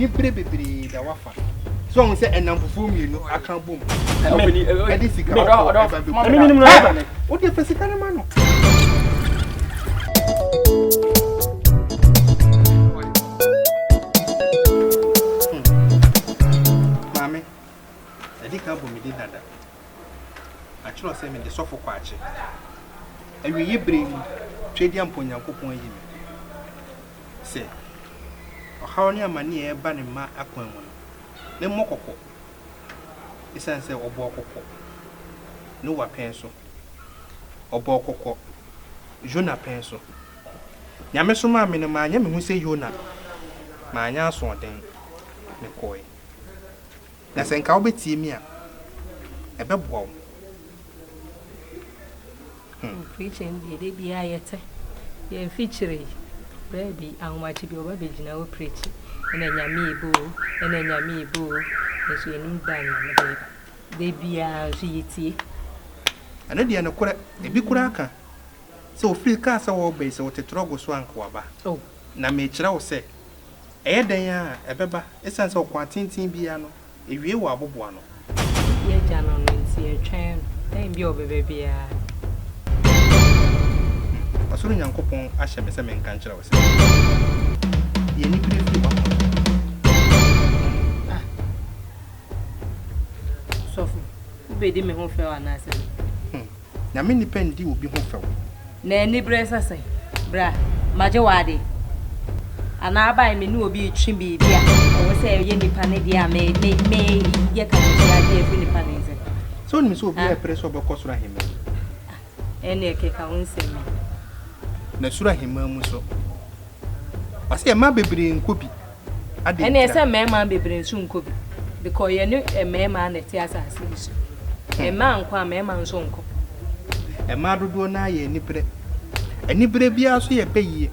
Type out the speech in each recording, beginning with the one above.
anibere bebree da wafa so ɔhun sɛ ɛnam fufuo mmienu aka bom ɛde sika ɔkɔ ɛba bi o de fɛ sika ne ma no. maame ɛde ka bɔ mi de dada atwerɛ sɛ mede sɔfo kɔ akye awieyi bere mu twɛdi ampo nyankopɔn ayi me sɛ, ɔhaw ne amane a ɛreba ne mma akwan mu no, memmɔ kɔkɔ, esiane sɛ ɔbɔɔ kɔkɔ Noa pɛn so, ɔbɔɔ kɔkɔ Yona pɛn so. Nyame somaa me no, manyɛ me ho sɛ Yona, manyɛ asoɔden, mekɔe. Na sɛ nka wobɛtie me a, ɛbɛboa wo. Hmm preaching deɛ da biara yɛte yɛn fikyiri yi baabi ahomakye bi ɔba bɛgyina wo preach ɛna nyame ebo ɛna nyame ebo nso yɛnim da nyame de ba da biara nso yɛtie ɛno deɛ nokorɛ ebi koraa ka sɛ ofiri kaa sɛ wɔreba yi sɛ wote trɔgo so a nka waba oh. na mekyerɛ wo sɛ ɛyɛ dɛn a ɛbɛba ɛsiane sɛ ɔkwan tenten biara no Ewie wɔ aboboano. Yɛ agya no no nti yɛtwɛn no. Dɛn bi a ɔbɛba biara. Hmm. Ɔsoro Nyankopɔn ahyɛ me sɛ menka nkyerɛ wo sɛ. Yɛ anibere firi w'akoma mu. Ah. Sɔfo, wobɛdi me ho fɛw anaasɛ? Nyame nnipa nndi obi ho fɛw. Na anibere nsa sɛn? Bra, magye wo ade. Anaa abae me ne obi retwe biribi a ɛwɔ sɛ ɛyɛ nnipa ne deɛ a me me me yɛ ka ne tia agye afiri nnipa ne nsam. Sɛ wonim sɛ obiara repere sɛ ɔbɛkɔ soro ahemman mu. Ɛnneɛ keka wo nsɛm yi. Na soro ahemman mu nso. Ɔse mmaa bebree nkɔ bi. Adɛn Ɛneɛ sɛ ntia? mmarimaa bebree nso nkɔ bi because yɛne mmarimaa na ɛte asase yi so. Mmaa nkɔ a mmarima nso nkɔ. Mmaa dodoɔ no ara yɛ aniberɛ. Aniberɛ biara so yɛ bayie.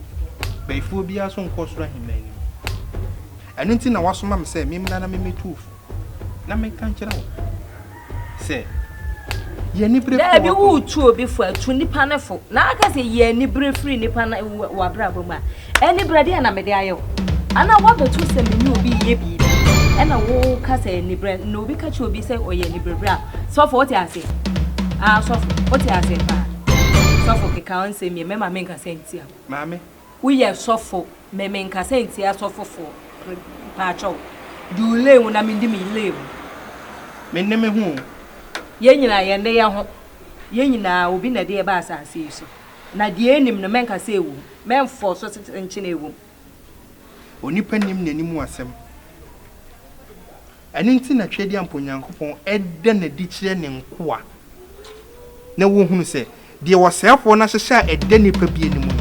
Bayifoɔ biara nso nkɔ ɔsoro ahemman no mu. Ɛno nti na wɔasoma me sɛ memmra na memmɛtu wo fo. Na menka nkyerɛ wo sɛ yɛ anibere fo daabi woretu obi fo atu nipa no fo na aka sɛ yɛ anibere firi nipa no wɔ abrabɔ mu a anibere deɛ na mede ayɛ wo ana woabɛto sɛ me ne obi yɛ biribi ɛna woka sɛ anibere na obi ka kyerɛ obi sɛ ɔyɛ anibere berɛ a sɔfo wote ase ah sɔfo wote ase paa sɔfo keka ɔnsɛm yɛ mɛma menka sɛ ntia maame Woyɛ sɔfo me me nkasa ntia sɔfo foɔ mpaatwɛw di wo lane mu na me di me lane mu. Me nne me ho o. Yɛn nyinaa yɛn nne yɛn ho. Yɛn nyinaa obi na ɛde yɛn ba asaase yi so na deɛ ɛnim no mɛnka sɛ ɛwɔ mu mɛnfɔ so sɛ nkyene ɛwɔ mu. Onipa nim n'anim asɛm. Ɛno nti na Tweaduampɔ Nyankopɔn da no adi kyerɛ ne nkoa, na wɔhunu sɛ deɛ ɔsɛefoɔ no ahyehyɛ a ɛda nnipa bi anim no,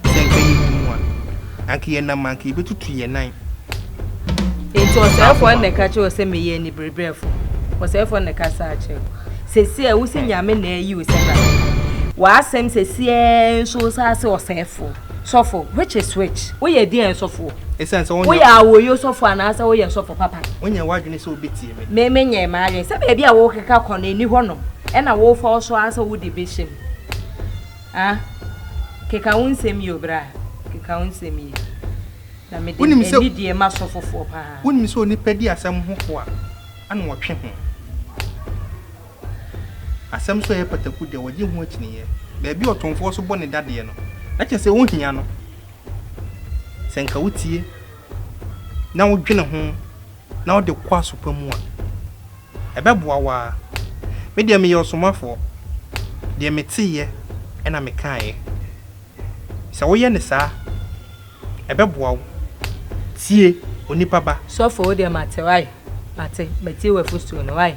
sɛ anka yɛhu mu a, anka yɛnam a anka yɛbɛtutu yɛn nan. Enti ɔsɛefoɔ no na ɛka kyerɛ wo sɛ meyɛ anibereberɛfoɔ? Ɔsɛefoɔ no na ɛka saa kyerɛ wo? Seesei ara wose Nyame na ayi wo sɛ Nabal? W'asɛm seesei ara nso wosase ɔsɛefoɔ? Sɔfo, which is which? Woyɛ deɛn sɔfoɔ? Ɛsiane sɛ wonyɛ. Woyɛ awoyo sɔfo anaasɛ woyɛ sɔfo papa? Wonyɛ w'adwene sɛ wobɛtie me. Me, menyɛɛ m'adwene sɛ baabi a worekeka kɔ no, ɛnni hɔ nom, ɛna worefa wo so ara sɛ wode bɛhyɛ mu. Ah, keka wo nsɛm yie o, bra, keka wo nsɛm yie. Na mede Wonim sɛ. anidie ma sɔfofoɔ pa ara. Wonim sɛ onipa di asɛm ho fo a, ɛna ɔtwe ho. Asɛm nso a ɛyɛ pataku deɛ, wɔgye ho akyinnyeɛ. Baabi a ɔtomfoɔ nso bɔ ne dadeɛ no, na kyerɛ sɛ wohia no. Sɛ anka wotie na wodwene ho na wode kɔ aso pa mu a, ɛbɛboa wo ara. Me deɛ meyɛ ɔsomafoɔ, deɛ meteeɛ na mekaeɛ. Sɛ woyɛ no saa a, ɛbɛboa wo. Tie, onipa ba. Sɔfo, wo deɛ mate, woae? Mate, matie w'afotuo no, woae?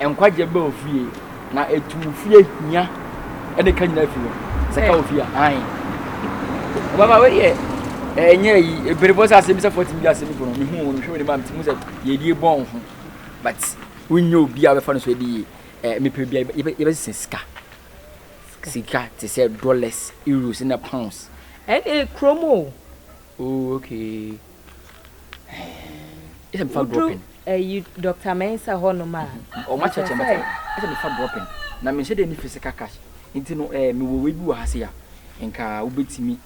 Nkwagye ba ofie na etu ofie hia ɛne ka nyinaa fi hɔ. Sɛ ka ofie a ae. Ɔbaba wei yɛ ɛnyɛ yi ebere bɔ sɛ asɛm bi sɛ fɔtin bi asɛm bi bɔ no mehu wɔn mehwɛ wɔn mu a mete mu sɛ yɛdie bɔ wɔn ho but wonyɛ obi a bɛfa no so ɛde yie ɛɛ eh, mepɛ bi a yɛbɛsesɛ sika sika te sɛ dollars euros na pounds ɛne kurom o Ooh okay Ɛhɛn Ɛsɛ mefa Woduru dropping? ɛyi Doctor Mensah hɔ nom a, Ɔmo mepɛ akyerɛkyerɛ sɛ. makyɛ Ɛsɛ mefa dropping? Na menhyɛ da nni physical cash nti no eh, mewɔ wei bi wɔ ha sei a nka wobɛtumi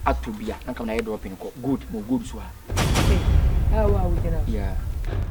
atɔ bi a na nka mede ayɛ dropping kɔ gold, mewɔ gold nso wɔ ha. Ɛhɛn Ɛha wo a wogyina hɔ. Yeah.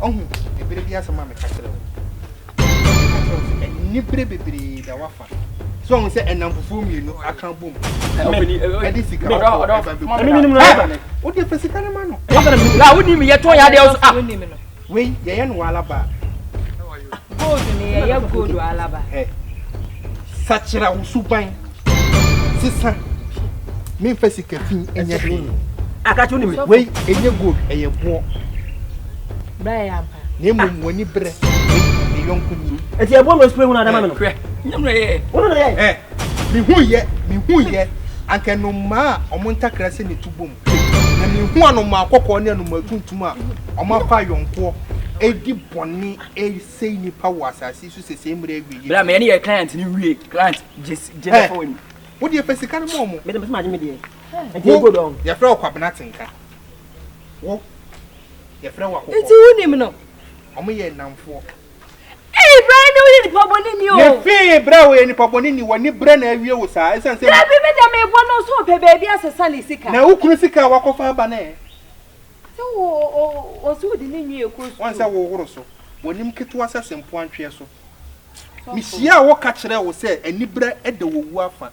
Ɔhu ebere bi asɛm a meka kyerɛ wo. Anibere bebree da wafa. So ɔhu sɛ ɛnam fufuo mmienu aka bom. Ɛde sika kɔ ɛba bɛgu. Wode fɛ sika no ma no. Wode mi yɛ tɔn yɛ adeɛ so. Wei yɛyɛ no wɔ alaba. Gold ne yɛyɛ gold wɔ alaba. Hɛ sakyera wo suban sesa memfa sika fi ɛnyɛ hwee. Akato ne me. Wei ɛnyɛ gold ɛyɛ boɔ. Bra yɛ ampa. Na mmom w'ani brɛ ne yɔnko ni. Ɛti ɛboɔ na ɔspray ho na adama me no. Hwɛ nyam na yɛ. Wono na yɛ. Hɛ mehu yɛ mehu yɛ anka no mmaa ɔmo ntakra sɛ ne tu bom. Na mehu anomaa kɔkɔɔ ne anomaa tuntum a wɔakɔ ayɔnkoɔ redi bɔne resɛe nnipa wɔ asase so sɛ sɛ mmerɛ awieɛ. Bra meyɛ ne yɛ client ne wie client gyesɛ fɔ wani. Wo deɛ fa sika no ma ɔmo. Mede mese magye me deɛ. Nti ego dɔ. Yɛfrɛ wo kwabena tenka. Wo yɛfrɛ wo akokɔ. Nti wo nim no. Ɔmo yɛ nnamfoɔ. Eyi bra ne woyɛ nipa bɔne ni o. Ne fee bra woyɛ nipa bɔne ni wɔ ne bra na awie wo saa ɛsan sɛ. Dabi me deɛ me bɔ no so ɔpɛ baabi asesa ne sika. Na wo kunu sika a wakɔ fa aba no ɛ. Sɛ wo o o sɛ wode ne nwi ɛkɔ school. Wɔn sɛ wo horo so wɔ nim ketewa sɛ se mpoantweɛ so. Me hyia a wo ka kyerɛ wo sɛ ani bra da wɔ wu afa.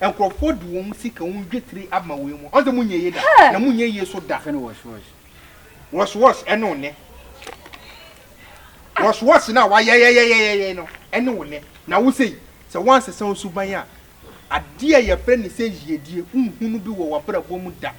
Nkurɔfoɔ de wɔn sika, wɔn dwetire ama wei mu. Ɔnse mo nyɛ yie da, na mo nyɛ yie so da. Fɛ no wɔs wɔs. Wɔs wɔs ɛne wo nɛ. Wɔs wɔs na wa yɛyɛyɛyɛyɛyɛ no ɛne wo nɛ. Na wo sei, sɛ wansesa wo suban a, adeɛ a yɛfrɛ ne sɛ yiedie, wonhunu bi wɔ wabrabɔ mu da.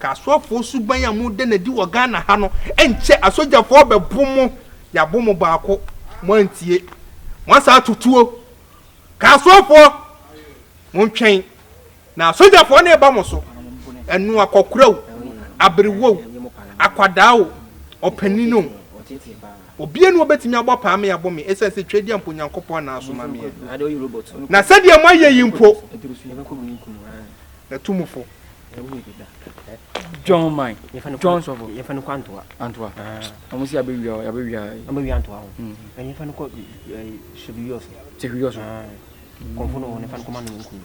Kasuafoɔ suban a mo da no adi wɔ Ghana ha no nkyɛ asogyafoɔ bɛbo mo yɛabo mo baako mo antie mo asan ato tuo Kasuafoɔ mo ntwɛn na asogyafoɔ no reba mo so ɛno akɔkora o aberewa o akwadaa o ɔpanin o obia ni obɛtumi abɔ paa me yɛabo me ɛsiane sɛ twɛdi a mpo Nyankopɔn na asoma meɛ na sɛdeɛ mo ayɛ yi mpo na tu mo fo John man. John sɔfo. Yɛ fɛn kɔ antoa. Antoa. Ɔmo si abɛ wia abɛ wia. Ɔmo wia antoa ho. Ɛn yɛ fɛn kɔ subi yɔ so. Subi yɔ so. Kɔnfo no wɔn yɛ fɛn kɔ ma no yɛn kunu.